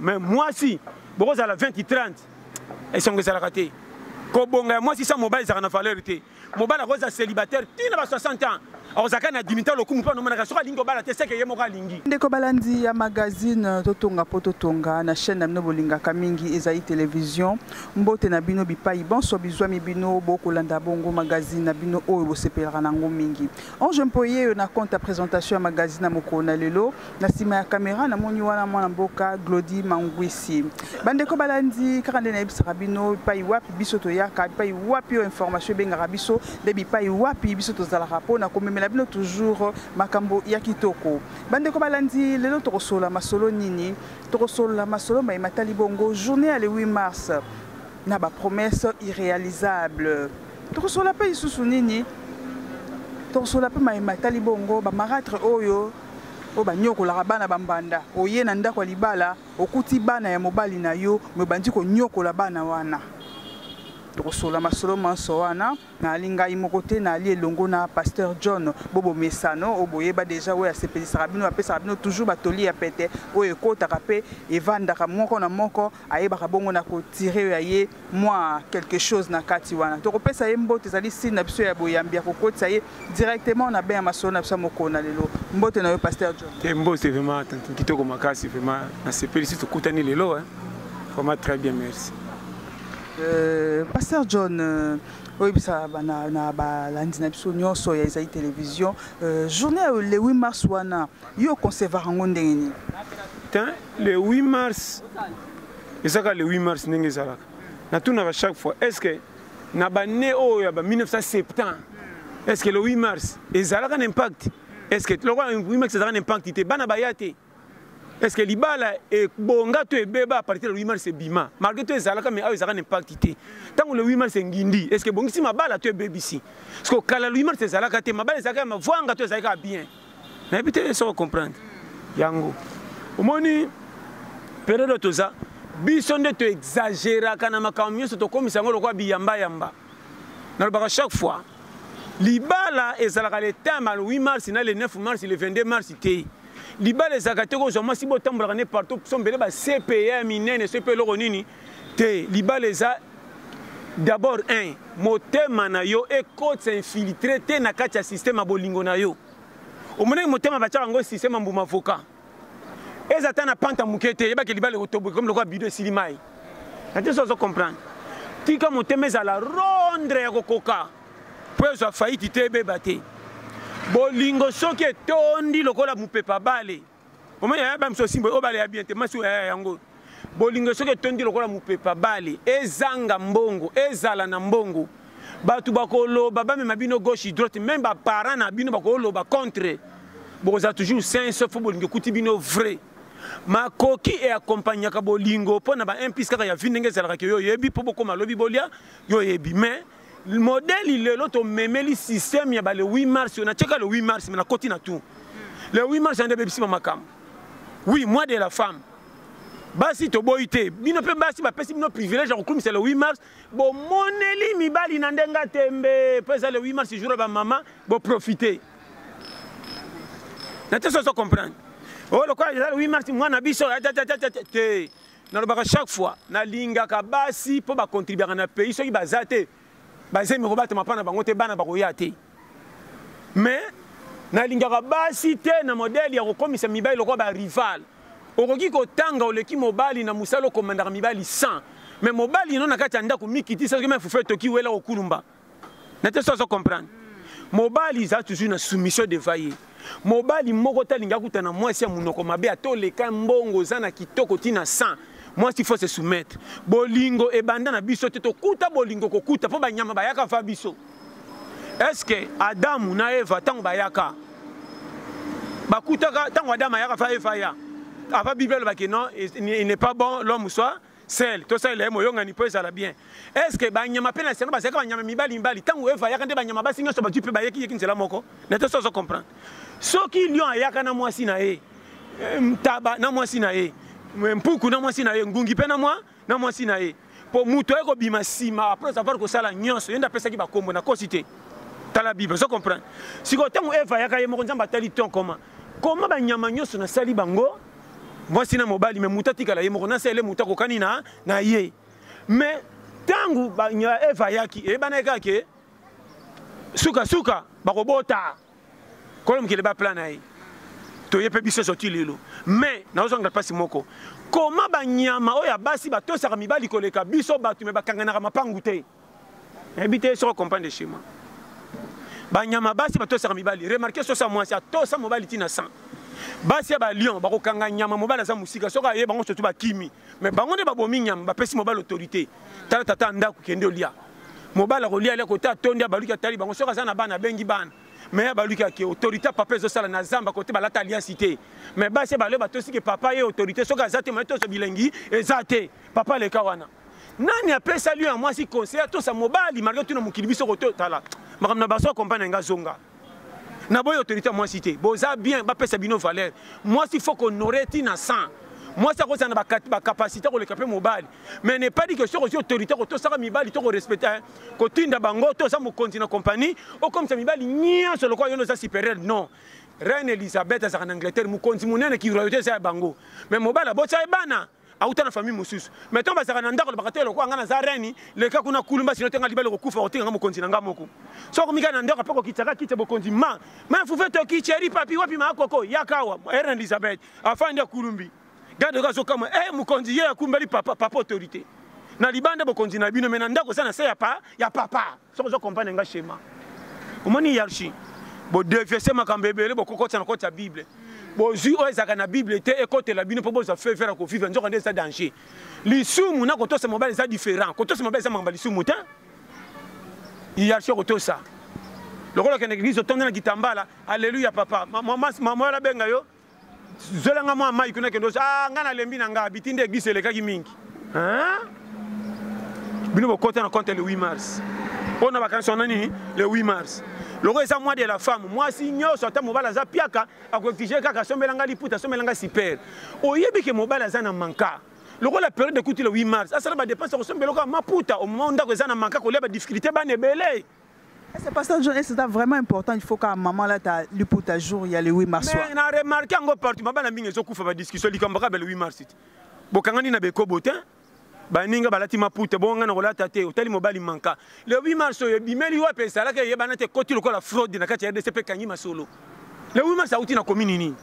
mais mwasi bokozala 20 ki 30 esengo ezalaka te kobonga ya mwasi sa mobali ezalaka na valeur te mobali akozala célibataire ti na ba 60 ans akozalaka na dimita lokumu mpo anomonaka soki alingi kobala te seke ye moko alingi ndeko balandi ya magazine totonga mpo totonga na chaîne na bino bolingaka mingi ezali television mbote na bino bipai banso bizwami bino bokolanda bongo magazine na bino oyo bosepelaka na yango mingi ange mpo yeyo na compte ya présentation ya magazine ya mokolo na lelo na nsima ya kamera namoni wana mwana mboka glodi mangwisi bandeko balandi kaka nde nayebisaka bino bipai wapi biso toyaka bipai wapi oyo information ebengaka biso nde bipai wapi biso tozalaka mpo na komemela bino toujours makambo ya kitoko bandeko balandi lelo tokosolola masolo nini tokosolola masolo maye matali bongo journée ya le 8 mars na bapromesse irréalisable tokosolola mpe lisusu nini tokosolola mpe maye matali bongo bamaratre oyo oyo banyokolaka bana bambanda oye na ndako ya libala okuti bana ya mobali na yo me obandi konyokola bana wana tokosolola masolo manso wana naali ngai moko te naali elongo na pasteur john bobo mesano oyo boyeba deja oyo asepelisaka bino apesaka bino toujours batoli ya pete oyo ekotaka mpe evandaka moko na moko ayebaka bongo na kotire ya ye mwa quelque chose na kati wana tokopesa ye mbote ezali sini na biso ya boyambi ya kokotisa ye directement na bain ya masolo na biso ya mokolo na lelo mbote na yo pasteur john te mbote vraiment kitoko makasi vraiment nasepelisi tokutani lelo vraiment très bien merci euh, pasteur john euh, oyebisa na balandi na biso nyonso ya ezali télévision euh, journée ya le 8 mars wana yo oconcevaka yango ndenge nini le 8 mars ezaka le 8 mars ndenge ezalaka natunaka chaque fois est ce que na bane oyo ya ba 1970 est ce que le 8 mars ezalaka na impact est ce que lokola 8 mars ezalaka na impact te bana baya te est ce que libala ebonga to ebeba apartir le 8 mars ebima malgré to ezalaka mais awa ezalaka na impact te ntango le 8 mars engindi est ce que ebongisi mabala to ebebisi siko kala le 8 mars ezalaka te mabala ezalaka ya mavwanga to ezalaka ya bien nayebi te soki ocomprendre yango omoni periode toza biso nde toexageraka na makambo nyonso tokomisa yango lokola biyambayamba nalobaka chaque fois libala ezalaka le temps ya 8 mars na le 9 mars le 22 mars te libala ezalaka te kozwa mwasi botambolaka nde partout so mbele ba cpa ya minene so mpe eloko nini te libala eza d'abord un motema na yo ekotisa infiltre te na kati ya systeme ya bolingo na yo omonaki motema batyaka yango systeme ya mbuma avoka eza ata na panta moke te yebaki libala ekotoboka komi lokola bido esili mai na te so ozo comprendre tika motema ezala rondre ya kokoka mpo ezwa faiti te ebeba te bolingo soki etondi lokola mopepa bale omoni yaya ba miso simbo obale ya bien te masi oyo yaya yango bolingo soki etondi lokola mopepa bale ezanga mbongo ezala na mbongo bato bakoloba bamema bino gauche droite meme baparent na bino bakoloba contre bokozala toujours sain sauf fo bolingo ekuti bino vrai makoki eakompagnaka bolingo mpo na ba implice kaka ya vi ndenge ezalaka ke yo oyebi mpo bokoma lobi bolia yo oyebi mais modeli lelo tomemeli système ya ba le 8 mars oyo natyeka le 8 mars me nakoti na tour le 8 mars yande ebebisi ba makambo oui mois de la femme basi toboyi te bino mpe basi bapesi bino privilège ya kokumisa le 8 mars bomoneli mibali na ndenge atembe mpo eza le 8 mars jour ya bamama boprofite na te soso comprendre oyo oh, lokola eza le 8 mars mwana biso te nalobaka chaque fois nalingaka basi mpo bakontribiaka na pays soki baza te bazemi kobatama mpa na bango te bana bakoya te mais nalingaka basi te na modele ya kokomisa mibali lokola barival okoki kotanga oleki mobali na mosala okomandaka mibali 100 mais mobali ino na kati ya ndako mikitisa soki me fufu etoki wela kokulumba na te so azo comprendre mobali eza toujours na soumission devant ye mobali moko te alingi akuta na mwasi ya monoko mabe ata oleka mbongo oza na kitoko ti na 100 mwasi faut se soumettre bolingo ebanda na biso te tokuta bolingo kokuta mpo banyama bayaka va biso est ce que adamu na eva ntango bayaka bakutaka ntango adamu ayaka va eva ya ava bible alobaki non il n'est pas bon l'homme soit sel tosalela ye moyongani mpo ezala bien est ce que banyama mpe na lisano bazalaki banyama mibali mibali ntango eva ayaka nde banyama basi nyonso bazwi mpe bayeki yeki nzela moko na te sozo comprendre soki lion ayaka na mwasi na ye eh, ntaba na mwasi na ye eh, mpuku na mwasi na ye ngungi mpe na mwa na mwasi na ye mpo moto aye kobima nsima apres avoir kosala nyonso ye nde apesaki bakombo na kosi te tala bible ozo comprendre sikoyo ntango eva ayaka ye moko nzambe atali ton koma koma banyama nyonso nasali bango mwasi na mobali me moto atikala ye moko na sele moto akokani na, na ye me ntango eva ayaki eyebanaki kaka ke sukasuka bakobota kolo mokili baplan na ye toye mpe biso ezoti lelo me naozongela mpasi moko koma banyama oyo ya basi batosaka mibali koleka biso bato me bakanganaka mapangu te nayebi te soko comprendre schéma banyama basi batosaka mibali remarke sosa mwasi atosa mobali ntina 100 basi ya balion bakokanga nyama mobali aza mosika soki aye bango sotu bakimi me bango nde babomi nyama bapesi mobali autorité tala tata ndako kende olia mobali akolia alia kote atondi abaluki atali bango soki aza na bana abengi bana me abaluki ake autorité papa ezosala na zamba kote balata aliansi te me basi balio batosiki papa ye autorité soki aza te maye tozo bilengi eza te papa leka wana nani apesa lion ya mwasi conseil atosa mobali marke tuna mokili biso kototala makambo na baso akompane na ngai azonga naboyi autorité ya mwasi te boza bien bapesa bino valeur mwasi fo konore ti na 100 mwasi akozala na bacapacité koleka mpe mobali mais ne pas dit que soki ozwi autorité kotosaka mibali to korespecte eh, kotinda bango to oza mokonzi na compagnie okomisa mibali nyonso lokola yono oza supérieur non reine elisabeth azalaka na angleterre mokonzi monene kiroyote eza ya bango mais mobali abotisa ye bana auta na famille mosusu mais ntango bazalaka na ndako alobaka te lokola ngai naza reni leka kuna kulumba sino te ngai libala kokufa kotika ngai mokonzi na ngai moko so komika na ndako mpe kokitaka kite bokonzi ma ma fufe toki cheri papi wapi maakoko yakawa erne elizabeth afandi akulumbi gade oyo azokama e eh, mokonzi ye akumbeli papa papa autorité na libanda bokonzi na bino me na ndako oza na se ya papa soki ozo comprendre nga schéma omoni hiérarchie bodeviese makambo ebele bokokotisa na koti ya bible bozwi oyo ezalaka na bible te ekotela bino mpo bozwa fevere ya kovivre nzoka nde eza danger lisumu na kotosa mobali eza différent kotosa mobali eza makambo ya lisumu te hiérarchie kotosa lokola okende eglise otonda na kitambala alleluya papa mama wala abenga yo zwela nga mwa mai kuna kende ah, nga nalembi na nga biti nde eglise elekaki mingi bino bokota na compte le 8 mars mpo na bakanisi wana nini le 8 mars loko eza mwa de la femme mwasi nyonso ata mobali aza piaka akoexige kaka asombela ngai liputa asombela ngai super oyebi ke mobali aza na manka lokola periode ekuti le 8 mars asala badepense akosombela oka maputa omoma ndako eza na manka kolia badifficulté bana ebele Ese pasteur John ese ta vraiment important il faut ka maman la ta liputa jour ya le 8 mars. Mais na remarqué yango partout mabana mingi ezo kufa ba discussion likambo ka le 8 mars. Bokangani na bekobo te. baninga balati maputa bongo ngai nakolata te otali mobali manka le 8 mars oyo ebimeli wapi ezalaki eyebana te ekoti lokola fraude na kati ya rdc mpe ekangi masolo le 8 mars auti na komi nini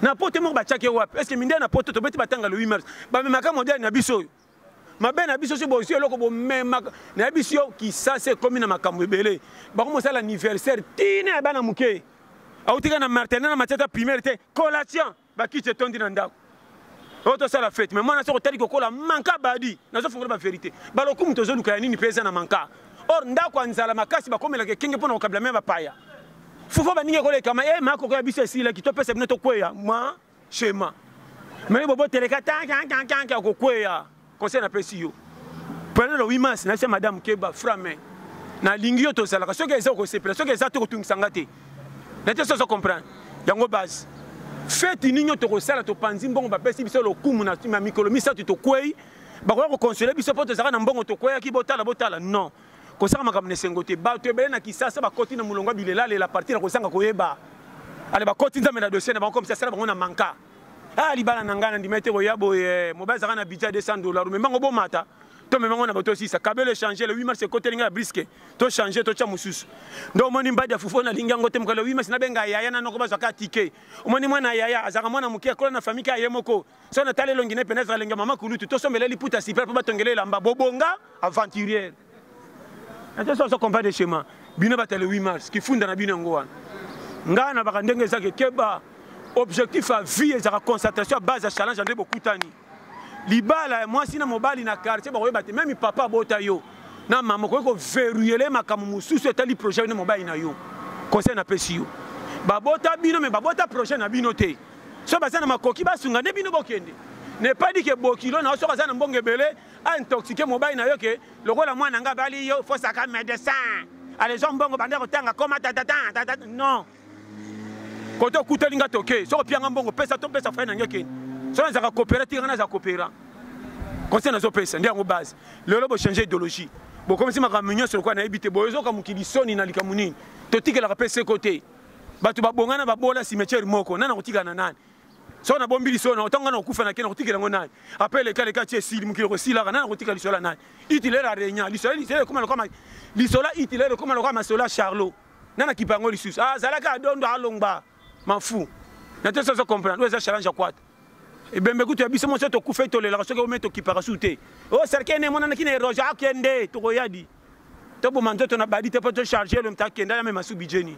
na poto moko batiaki ye wapi eske mindele na poto tobeti batanga le 8 mars bamemaka modele na biso oyo mabe na biso soki bozwi eloko bomemaka nayebisi yo kisasi ekomi na makambo ebele bakomi kosala anniversaire tina ya bana moke autika na martene na matiata primaire te collation bakiti etondi na ndako oyo tosala fete mai mwana soki otali kokola manka badi nazofungola baverité balokumu tozoluka ya nini mpe eza na manka or ndako ya nzala makasi bakomelaka ekenge mpo na kokabila mai bapaya fufa baningi ekolekama e eh, makoko ya biso esilaki topesa bino tokweya ma shema meme bobo teleka tankankankanke akokweya conseil napesi yo pwele le 8 mars nayebisa madame keba frame nalingi yo tozalaka soki eza okosepela soki eza te kotungisa nga te na te soso comprendre yango base feti nini tokosala topanzi mbongo bapesi biso lokumu na mikolo misato tokwei bakoya kokonsole biso mpo tozalaka na mbongo tokweyaki botala botala non kosala makambo na esengo te bato ebele na kisasa bakoti na molongo ya bilelalela parti na kozanga koyeba ale bakoti nzambe na dossier na bango komisa asala bango na manka a ah, libala na ngai nandimai te koya boye eh, mobali azalaka na budget 200 dollar omemango bomata tomema ngo na bato osisa kabelo echange le 8 mars ekoteli ngai ya briske tochange totya mosusu nde omoni mbadi ya fufu nalingi yango te mokalo 8 mars nabenga yaya nanoko bazwaka tike omoni mwana yaya azalaka mwana moke akola na famille kaka ye moko so na tala elongi ne peneza lenge mama kulutu to sombele liputa sipela po batongele elamba bobonga aventurier na to so combat de chemin bino batale 8 mars kifunda na bino yango wana ngai na baka ndenge ezaki keba objectif ya vie ezaka concentration ya base ya challenge nde bokutani libala ya mwasi na mobali na quartier bakoyeba te meme papa abota yo na mama okoki koveruyele makambo mosusu etali projet yo nde mobali na yo conseil napesi yo babota bino me babota projet na bino te soki baza na makoki basunga nde bino bokende ne pas dit ke bokilo na yo soki aza na mbongo ebele aintoxique mobali na yo ke lokola mwana nga bali yo fosaka médecin alezwa mbongo banda kotanga koma tatatan tata non kote okuteli nga toke soki opianga mbongo pesa to pesa fai na nge keni soki nazaka kopera tika nga naza kopera conseil nazopesa nde yango base lelo bochange idéologie bokomisi makambo nyonso lokola nayebi te boyozoka mokili soni na likambo nini totikelaka mpe seko te bato babonga na babola cimetière moko nani akotikala na nani soki nabombi lisolo nango ntango ngai nakokufa na ke nakotikela yango nani apres leka leka ti esili mokili kosilaka nani akotika lisolo ya nani itilere aregna lisolo lisolo ekoma lokama lisolo itilere ekoma lokama masolo ya charlot nani akipa yango lisusu azalaki ah, adondo alongba mafu na te soso comprendre oyo eza challenge ya kwata ebembe kutu ya biso moso tokufa etolelaka soki ome tokipaka su te o oh, serke ne emonanaki na eroge akende tokoyadi toboma nzoto na badi te mpo tocharge elongi takenda na mema su budget nini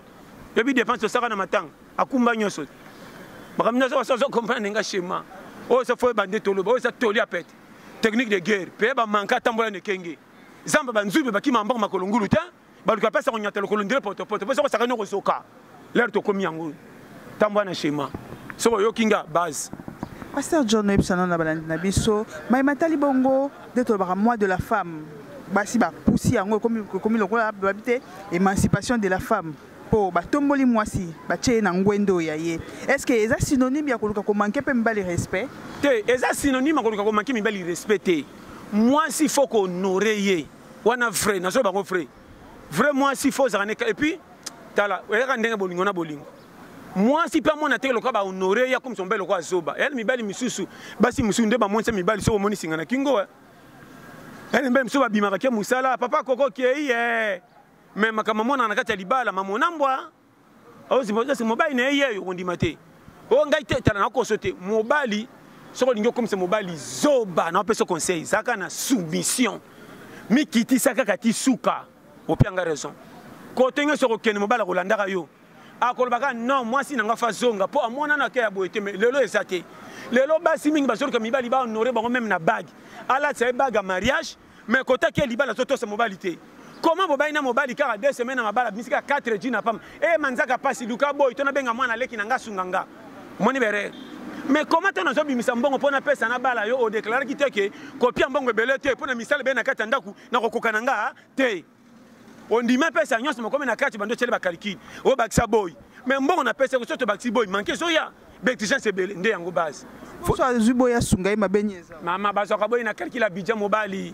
yobi dépense tosaka na matanga akumba nyonso makambo nyonso basi ozo comprendre nga schéma oyo eza foyeba nde toloba oyo eza toli ya pete technique de guerre peye bamanka atambola na ekenge zamba banzube bakima maboko makolo ngulu te baluka apesa konyata lokolo ndele potopoto mpo soko osakani okozoka lere tokomi yango oyo tambwa na shema soki oyoki nga base pasteur john oyebisa nano na balandi na biso mai matali bongo nde tolobaka mois de la femme basi bapusi yango ekomi lokola babi te émancipation de la femme mpo batomboli mwasi batye ye na ngwende oyo ya ye est ce que eza synonyme ya koluka komanke mpe mibali respect te eza synonyme ya koluka komanke mibali respect te mwasi fo kohonore ye wana vrai nazoyeba yango vrai vrai mwasi fo ozala neka epuis tala oyaka ndenge bolingo na bolingo mwasi mpe amona te lokola bahonore ye akomisa mobali lokola zoba eyali mibali misusu basi mosusu nde bamonisa mibali soki omoni singa na kingo eh. eyali mibali mosusu babimaka ke mosala papa koko kei e eh. me makambo amonaka na kati ya libala mamonambwa ozipose mobali na ye yeyo okondima te o oh, ngai te tala na koso te mobali soki olingi okomisa mobali zoba na opesa conseil zaka na soumission mikitisa kaka ti suka opia nga raison kote nyonso okokende mobali akolandaka yo akolobaka non mwasi na nga fa zonga mpo amonana ke ya boye te mai lelo eza te lelo basi mingi bazoluka mibali bahonore bango meme na bage alatisa ye bage ya mariage mais kota ke libala totosa mobali te koma bobali na mobali kaka deux semaine na mabala bimisi kaka 4 ji na pamba e manzaka mpasi luka boyi to nabenga mwana leki na nga asunga nga omoni berere mais koma ntango nazobimisa mbongo mpo napesa na bala yo odeklaraki te ke kopia mbongo ebele te mpo na misala ebele na kati ya ndako nakokoka na nga te ondimi apesa nyonso mokomi na kati bando otyeli bakalikili obakisa boyi me mbongo napesa koso tobakisi boyi manke ezoya baexigence ebele nde yango base azwi boyi asunga ye mabe nini eza mama bazwaka boyi na kalikila bidja mobali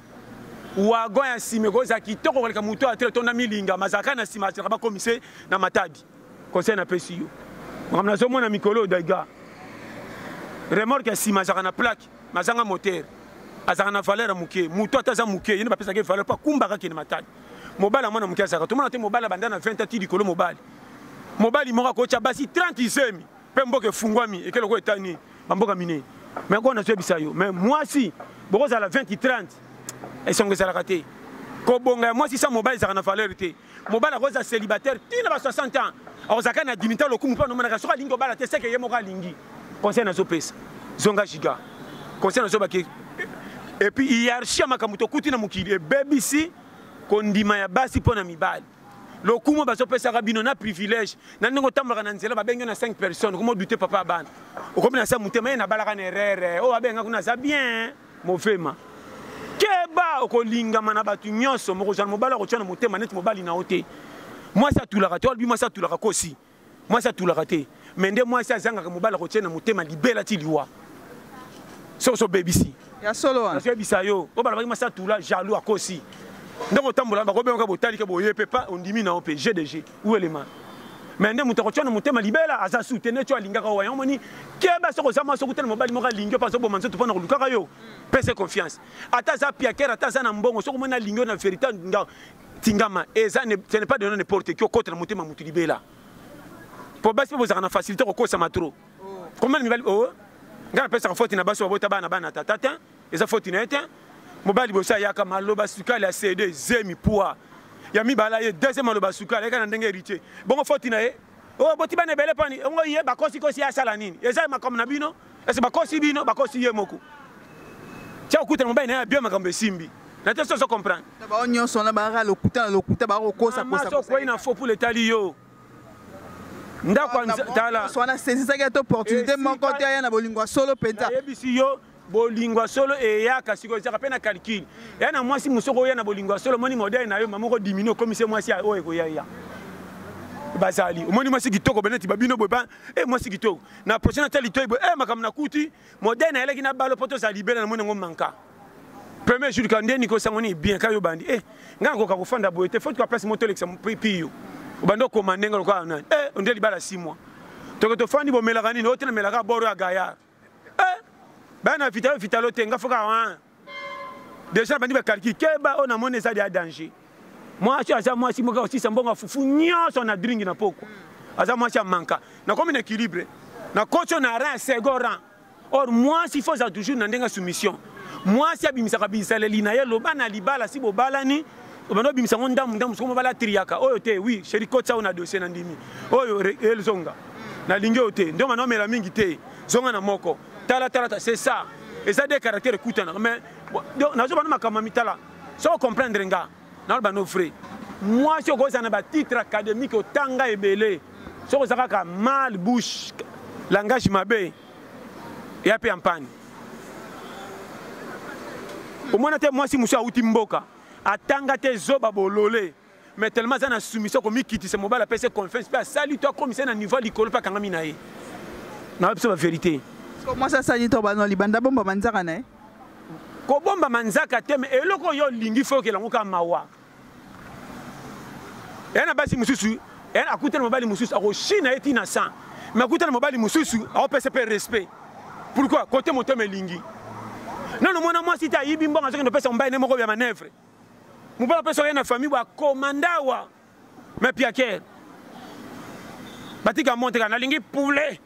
wagon ya nsima ekozala kitoko koleka moto ya tele tonda milinga mazalaka na nsima asilaka bakomise na matadi conseil napesi yo makambo nazomona mikolo oyo daiga remorke ya nsima azalaka na plaque mazanga motere azalaka na valeur ya moke moto ata aza moke yene bapesaka ye valeur mpo akumbaka kende matali mobali ya mwana moke azalaka tomona te mobali abanda na 20 ati likolo mobali mobali moko akotya basi 30 izemi mpe mboka efungwami ekele oko etani bamboka minei me kona toyebisa yo me mwasi bokozala 20 30 esongo ezalaka te kobonga ya mwasi sa mobali ezalaka na valeur te mobali akozala célibataire ti na ba 60 ans akozalaka na dimita lokumu mpo anomonaka soki alingi kobala te seke ye moko alingi conseil nazopesa zonga giga conseil nazobaki epuis hierarchie ya makambo tokuti na mokili ebebisi kondima ya basi mpo na mibali lokumu bazopesaka bino na privilège na ndenge otambolaka na nzela babengi na 5 personnes okomi odute papa ya bana okomi na sa motema ye nabalaka na erreur oyo abenga kuna aza bien Movema. Keba okolingama na bato nyonso, mokozala mobali akotya na motema neti mobali na yo te. Mwasi atulaka te, olobi mwasi atulaka kosi. Mwasi atulaka te. Mais nde mwasi azangaka mobali akotya na motema libela ti liwa. Soki obebisi. Ya solo wana. Nazoyebisa yo, oyo balobaki mwasi atula, jaloux akosi. Ndenge otambola, bakobengaka botali ke boye pe pa ondimi na yo pe, je de je. welema me nde moto akotya na motema libela aza su te neti oyo alingaka oyo yango moni keba soki oza mwasi okutana mobali moko alingi yo mpe azoboma nzoto mpo na kolukaka yo pese confiance ata aza piakere ata aza na mbongo soki omoni alingi yo na verité nga tingama eza ce n'est pas de n'importe qui okota na motema motu libela mpo basi mpe bozalaka na facilité kokosama trop oh. combien mibali o oh. ngai napesaka foti na basi babota bana bana tata te eza foti na ye te mobali bosi ayaka maloba sukali ya cd zemi pua ya mibala ye deuxième maloba sukali ayaka na ndenge héritier bongo foti na ye oyo oh, boti bana ebele pani ongo ye bakosikosi ye asala nini eza makambo na bino ese bakosi bino bakosi ye moko tia kokutana mobali na ye abie makambo esimbi na te soso comprendre bango nyonso wana baaka lokuta na lokuta bakokosakosaokwei na fo pula etali yo ndako tala wana sezisaki ata opportunité moko te aya na bolingo ya solo mpenza ayebisi yo bolingo ya solo eyaka sikoyo ezaka mpe na calcul eya na mwasi mosusu okoya na bolingo ya solo omoni modele na yo mama okodimine okomisi mwasi oyo ekoyaya bazali omoni mwasi kitoko beneti babino boye ba e mwasi kitoko na prochaine ata litoi boye e makambo nakuti modele nayelaki na balo mpo tozala libela na moni yango manka premier jour ka nde nikosango nini bien kayo bandi e ngai nakoka kofanda boye te fo tuka place moto olekisa piyo obandi okoma ndenge lokola nani e onde libala 6 mois toke tofandi bomelaka nini otenamelaka boro ya gayard eh, baya na vitalo vitalo te nga foka wan ah. deja nabandi bakalki keba oyo namoni eza deya danger mwasi aza mwasi moka kosisa mbongo ya fufu nyonso na dringi na pokwa aza mwasi ya manka nakomi na équilibre nakoti oyo na rin second ran or mwasi fo aza toujours na ndenge ya soumission mwasi abimisaka bizaleli na ye loba na libala si bobalani obanda obimisa yango ndambu ndambu soki mobala atriyaka oyo te wi sheri kotisa oyo na dossier na ndimi oyo elzonga nalingi oyo te ndonga na omela mingi te zonga na moko tala tala ta c'est ça eza de caractère ekutanaka mais nazobana makambo ya mitala soko comprendre nga naloba no vrai mwasi okozala na batitre académique otanga ebele soki oza kaka mal bouche langage mabe eya mpe ya mpani omona te mwasi mosusu awuti mboka atanga te zoba bolole mais tellement aza na soumission komikitisa mobali apesi confiance mpe asali to akomisa na niveau ya likolo mpe akangami na ye nayo biso baverité mwasi asali to bano libanda bomba manzaka na ye kobomba manzaka te me eloko oyo olingi fo okela yango kaka mawa eya na basi mosusu akuta na mobali mosusu akoshina ye ti na 100 me akuta na mobali mosusu akopesa mpe respect pourquoi kote motema elingi nano mwana mwasi te ayibi mbongo azokende opesa mobali ne moko ya manevre mobali apesa oye na famille bakomandawa me piakere batika monte kaka nalingi poulet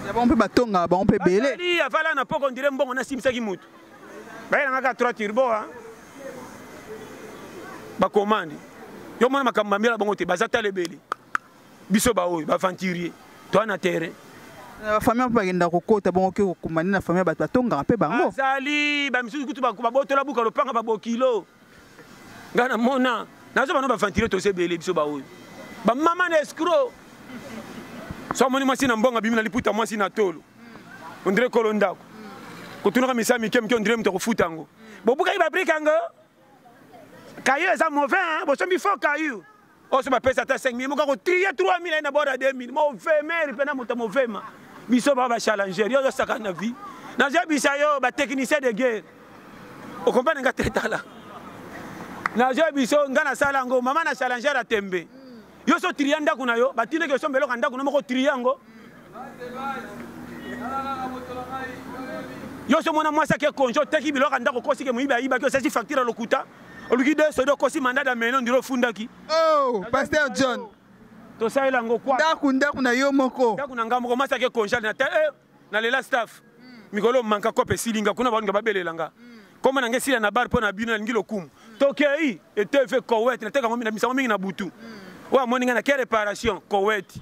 ya bango mpe batongaka bango mpe ebele afala na poko ndire mbongo nasimbisaki motu bayelanga kaka trois turbo a bakomande yo mona makambo bambela bango te baza tala ebele biso baoyo baventurier toa na terrain na bafamille mpe bakenda kokota bongo oke kokumbani na famille ya bato batongaka mpe bango azali bamisusu kutu babotola buka lopanga babokilo nga na mona nazo bana baventile toza ebele biso baoyo bamama na escro so amoni mwasi na mbongo abimi na liputa mwasi na tolo ondire kolo ndako kotunaka misala mike mike ondire moto akofuta yango bobukaki babrike yango kayo eza mauvais bosombi fo kayo oso bapesa ata 5000 moka kotrie 3000 aye na bord ya 2000 movemeri mpe na moto movema biso baa bachallanger yo ozosaka na vie nazoyebisa yo batechnicien de guerre okompane nga te tala nazoyebisa yo nga nasala yango mama na challanger ya tembe yo so trie ndako na yo batindaki osomba eloko ya ndako na moko trie yango yo so mona mwasi ake konje oteki biloko ya ndako okosike moyibi ayibaki osasi facture ya lokuta oluki de sodo okosi mandat da meno ndiro ofundaki oh pasteur john tosalela yango kwa ndaku ndaku na yo moko ndaku na ngai moko mwasi ake conjale na te eh, na lela staff mm. mikolo manka kope esilinga kuna baninga babelela nga mm. koma na ngai esila na bar mpo na bino nalingi lokumu mm. tokei etv kowet nateka yango misango mingi na butu oyo amoni ngai na ke reparation kowet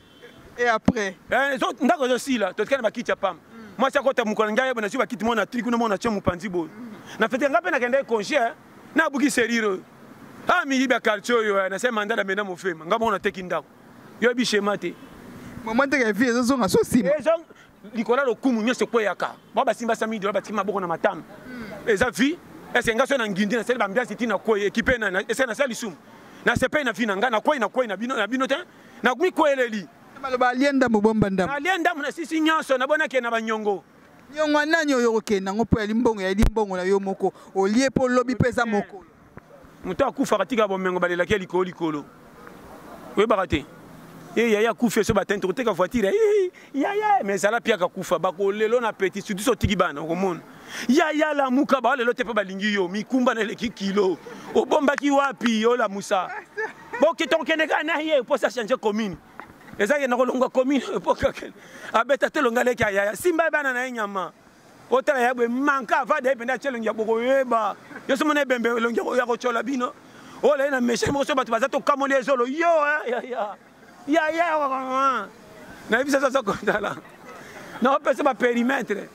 et après eh, ndako ezosila totika na bakiti ya pamba mm. mwasi akota mokolo ngai yeba nazwi bakiti mona tri kuna mona tye mopanzi boye mm. na fete ngai mpe nakendaki conge eh. nabuki serire oyo a ah, miyibi ya quartier oyo eh, nase manda na mena mofema ngai moko nateki ndako yoyebi shema te mama ndenge ya vie ezozonga so nsima likolo ya lokumu nyonso ekweyaka bao basimba sami dola batiki maboko na matama mm. eza vie ese ngai so na ngindi nasali bambiasi ti nakwei ekipe esali nasala lisumu nasepeli na vi na ngai nakwei nakwei na bino te na mikweleli maloba alie ndambo bomba ndambo alie ndambo na sisi nyonso na bona ke na banyongo nyongo nani oyo okokenda yango mpo ya limbongo ya limbongo na yo moko olie mpo lobi mpe eza mokolo moto akufaka tika bomengo balelaki ya likolo likolo oyebaka te e yaya akufi so batani tokoteka voitire yaya mais ezala mpe akakufa bakolelo na peti sutu so otiki bana okomona yaya lamuka baolelo te mpe balingi yo mikumba na eleki kilo obombaki wapi olamusa bokita okende kaka na ye mposa change commune ezalaki na kolongwa commune epokakende abeta te longa leki ayaya simba bana na ye nyama otala ya boye manka avada ye mpenza atye elongi ya bokoyeba yo somo na ebembe elongi ya kotyola bino olaye na mechani moko so bato baza tokamoli ezolo yo yaya yaya nayebi sasa aza kotala naopesa baperimetre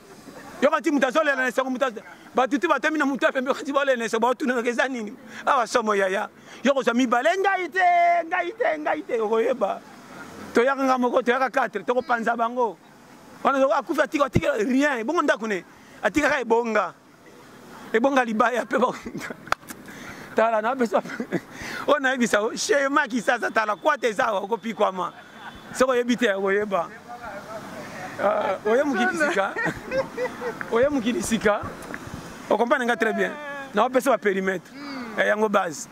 yokati moto azolela na esengo moto bato te batomi na moto ya pembe okati baolela na esengo baotunanaka eza nini awa somo yaya yo kozwa mibale ngai te ngai te ngai te okoyeba toyaka nga moko toyaka 4 tokopanza bango wana akufi atika atikela rien ebongo ndako ne atikaka ebonga ebonga libaya mpe tala napesa oyo nayebisa shema kisasa tala kwata eza awa okopikwama soki oyebi te okoyeba euh, oye mokili sika oye mokili sika okomprane nga très bien naopesa baperimetre hmm. eh, yango base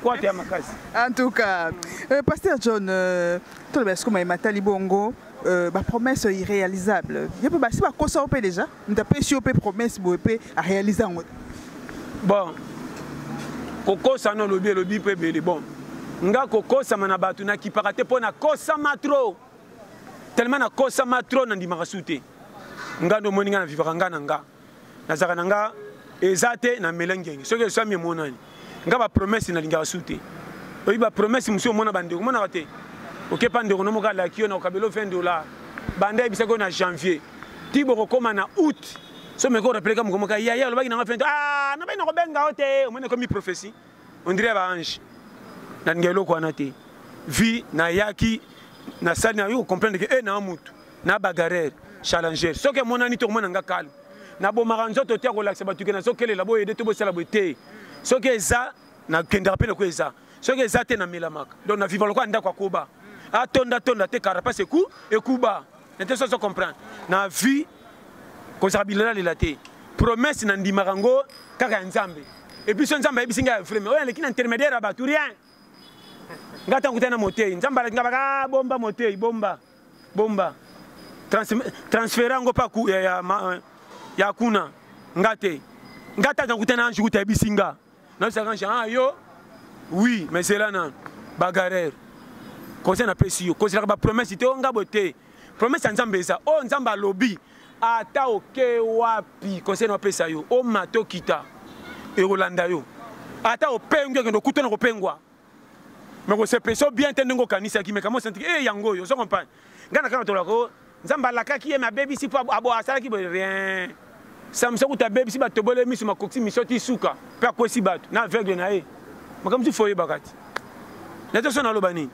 kwate ya makasi en tout cas euh, pasteur john euh, toloba esikoma ematali bongo bapromesse irréalisable ye mpe basi bakosa yo mpe déjà moto apesi yo mpe promesse boye mpe arealise yango te bon kokosa no olobi elobi mpe ebele bon nga kokosama na bato nakipaka te mpo nakosama tro tellement nakosama tro nandimaka su te nga nde omoni nga na vivaka nga na nga nazalaka na nga eza te na mela ngenge soki eswami emonani nga ba promesse nalingaka su te oyebi ba promesse mosusu omona bandeko omonaka te okepa ndeko no moko alaki yo na okabela yo 20 dollar banda yebisaki yo na janvier ti bokokóma na août so meko orapeleka moko moka yaya olobaki nanga 20 ah nabai nakobenga yo te omoni ekomi prophétie ondire ba ange nalinga eloko wana te vie nayaki nasali nayo okomprendre ke e eh, naa motu na bagarere challenger soki emonani te okomona nga calme nabomaka nzoto te akolakisa bato ke nazokelela boyede to bosala boye te soki eza nakendaka mpe lokola eza soki eza te namelamaka donc na viva lokola ndako akoba atonda tonda te carapace eku ekuba nete soso comprendre na vie kozala bilelalela te promesse na ndimaka yango kaka ya nzambe epuis so nzambe ayebisi ngai ya vreme oyo aleki na intermédiaire ya bato rien ngai ntango kutani na motei nzambe alaki ngai baka ah, bomba motei bomba bomba trans, transfera yango pa ya, ya, ma, ya kuna nga te nga tata kuta na ange kuta yebisi nga nayebisaka ange ah yo oui mais zela na bagarere conseil napesi yo kozelaka bapromese te o nga bo te promese ya nzambe eza oyo nzambe alobi ata oke wapi conseil na opesa yo omata okita ekolanda yo ata opengwi okende okutana kopengwa mais kosepesa yo bien te ndenge okanisaki mais kama osantiki e yango oyo ozo comprendre ngai na kaka tolaka o nzambe alakaki ye me abebisi mpo abo asalaki boye rien samisa kuta abebisi bato tobole miso makokisi miso ti suka mpe akwesi bato na aveugle na ye makambo mosusu fo oyebaka ti naza so naloba nini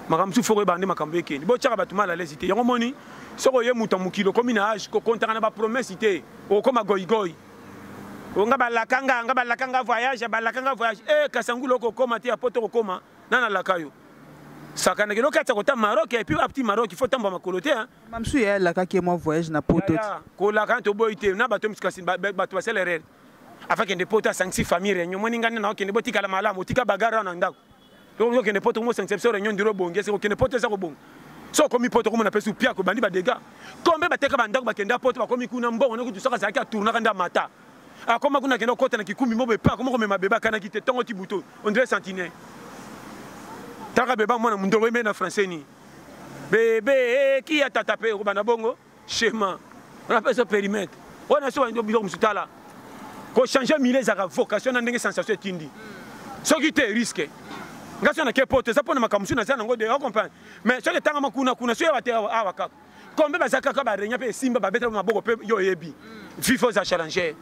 makambo mosusu fo koyebaka nde makambo ekende botyaka bato mal alesi te yango omoni soki oye moto ya mokili okomi na age kokontaka na bapromese te okokoma goigoi onga balaka nga nga balaka nga voyage balaka nga voyage eh kasangulu okokoma te ya poto okokoma na nalaka yo sakana kino kati kota maroc et puis apti maroc faut tamba makolo te hein mamsu ya laka ke moi voyage na poto te ko laka to boy te na bato miskasi bato basela erreur afin kende poto asangisi famille réunion moni ngani na okende botikala malamu otika bagara na ndako donc okende poto komosangisa biso réunion ndiro obongi ese kokende poto eza kobonga so okomi poto okomona mpe su piako ebandi badega kombe bateka bandako bakenda poto bakomi kuna mbongo nokutu soki azalaki atournaka nde amata akoma kuna akenda kokota na kikumi mobo epa akoma komema bebe akanaki te ntongo ti buto ondire sentinelle talaka beba mwana mondongo emei na français ni bebe eh, kia tata mpe okobanda bongo Shema, on appelle ça périmètre. On a souvent dit bizarre musuta là. Ko changer milieu ezaka vocation na ndenge sensation etindi. Soki te risque. Nga sona ke pote za pona makambo suna za nango de on comprend. Mais soki tanga makuna kuna soki ba te awa kaka. Kombe ba zaka ka ba renya pe simba ba beta maboko pe yo yebi. Vivo za challenger.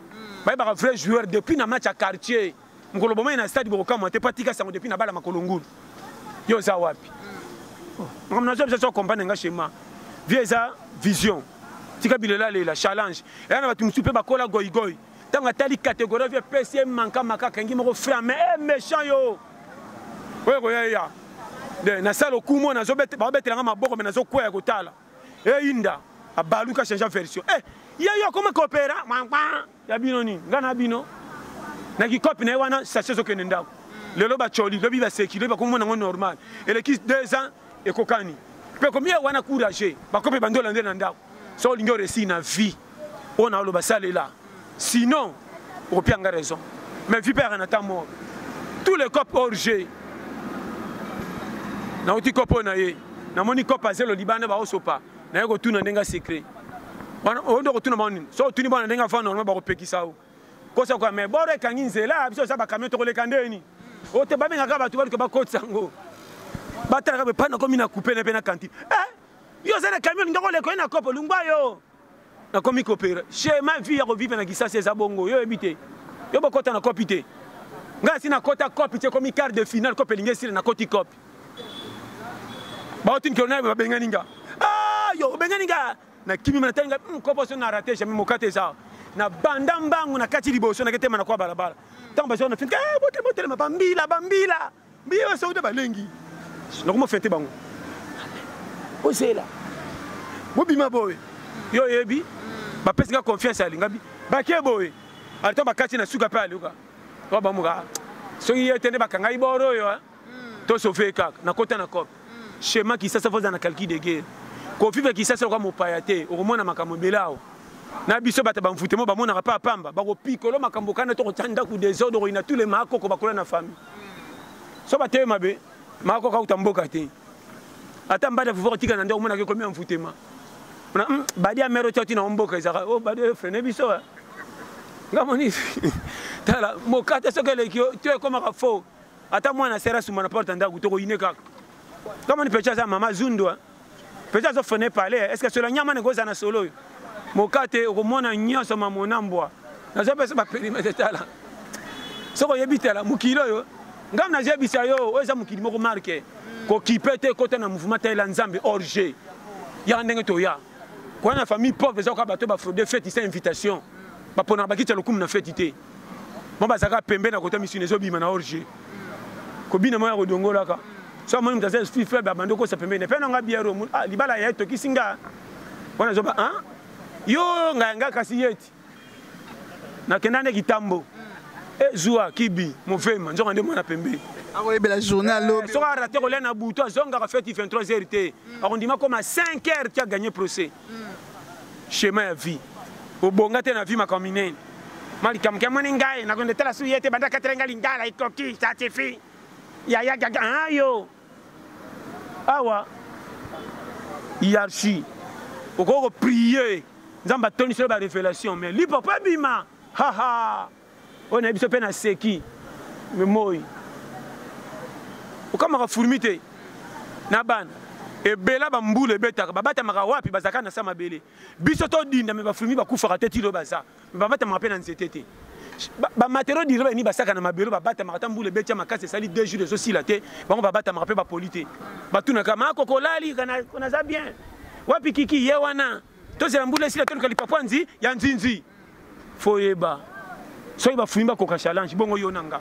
Ba ba vrai joueur depuis na match à quartier. mokolo bomani na stade bokokamwa te mpo atika sango depuis na bala makolo ngulu yo oza wapi oh, makambo nazwa biso so comprendre nga chema vie eza vision tika bilela lela challenge eya na bato mosusu mpe bakola goigoi ntango atali catégorie vie epesi ye manka maka akangi moko frame e eh, méchant yo oyo ekoya eya de nasala okumo baobetelanga maboko me nazokweya kotala eyinda eh, abaluka change version e eh, ye yo akoma kopera ya bino nini ngai na bino na kikopi na ye wana sasi ezokende ndako lelo bacoli lobi baseki lobi bakomona yango normal eleki deux ans ekokani mpe komi ya wana courage bakope bandola nde na ndako so olingi oresi na vie oyo na oloba salela sinon okopia nga raison mais vie mpe yaka na temps mort tous les copes hors jeu nauti kopo na ye namoni kope azelo libanda baosopa naye kotuna ndenge ya secret wana oyo nde okotuna bango nini so otuni bana ndenge afa normalement bakopekisa yo kosa koya mai boro ekangi nzela biso oza bacamion tokoleka ndeni oyo te babengaka bato baluka bakotisa yango batalaka epai nakomi na coupe na mpe na kantine eh, yo oza na camion linga koleka ye na kopo lungwa yo nakomi kopera chema vie ya kovive na kisasi eza bongo yo oyebi te yo bokota na kopi te ngai asi nakota kopi te ekomi quart de finale kopi elingi esila nakoti kopi baotini kilo naye babengani nga ah, yo obengani nga nakimi natali nga hmm, kopo so na rate jamais mokate eza na banda mbangu na kati liboso naketema na kwa balabala ntango bazwa na fini eh, botelema botelema bambila bambila mbiye basoki nde balengi nakoma fete bango ozela bobima boye yo oyebi bapesi nga confiance alingabi bake boye alito bakati na suka mpe aluka babamuka soki ye te nde bakangai boro oyo to sauve kaka na kota na cop schéma kisasa foza na calcul de guerre kofifa kisasa kwa mopaya te okomona makambo ebele awa na biso bato bamfute mo bamonaka mpe apamba bakopikolo makambo kana tokotya ndako desordre okoyina tous le maakoko bakola na famille so bateye mabe maakoko auta mboka te ata mbadi ya fufa kotika na nde omonaka ekomi ya mfutema ona hmm, badi ya mere otyati na mboka ezaka o oh, badi oyo frene biso eh. nga moni tala mokate soki eleki yo to ekomaka faux ata mwana sera suma na porte ndaku to ko ine kaka kama ni pecha za mama zundwa pecha zo fene pale est ce que cela nyama ne goza na solo yo mokate okomona nyonso mamona mbwa nazo pesa ba perimetre tala soko oyebi tala mokili oyo ngai nazebisa yo oyo eza mokili moko marke kokipe te ekota na mouvement talela nzambe orge yaka ndenge toya koya na famille pauvre eza koka bato bafraude feti sa invitation baponaka bakiti ya lokumu na feti te mwa bazalaka pembe na kota misuni ezobima na orge kobina mwa ya kodongolaka so amoni moto aza esprit faible abandi okosa pembeni epai na nga biaro ah, libala ya etokisi nga wana zoba a ah, yo ngai nga kasi yeti nakenda nde kitambo ezwa eh, kibi mofema nzoka nde mwana pembe akoyebela journal eh, lobi soki arate kolia na butu azongaka feti 23 heures te akondima koma 5 heures ti aganye procès chemin ya vie obonga te na vie makambo minene ma likambo ke amoni ngai nakonde tala su ye te banda katela ngai lingala ekoki ça suffit yaya gaga ah, yo awa hiérarchie okoki koprie nzambe atondiselo barévélation mais lipopo ebima haha oyo nayebi biso mpe naseki me moi okamaka furmi te na bana ebela bambula ebetaka babatamaka wapi bazalaka na sa mabele biso todinda me bafurmi bakufaka te tilo baza me babatamaka mpe na nzete te bamatero dire bayini basaka na mabele babatamaka ata mbula ebetya makasi esali deux jours ezosila te bango babatamaka mpe bapoli te batunaka makokolali naza bien wapi kiki ye wana tozela mbula esila toluka lipapwa nzi ya nzinzi foyeba soki bafuyi bakoka challenge bongo yo na nga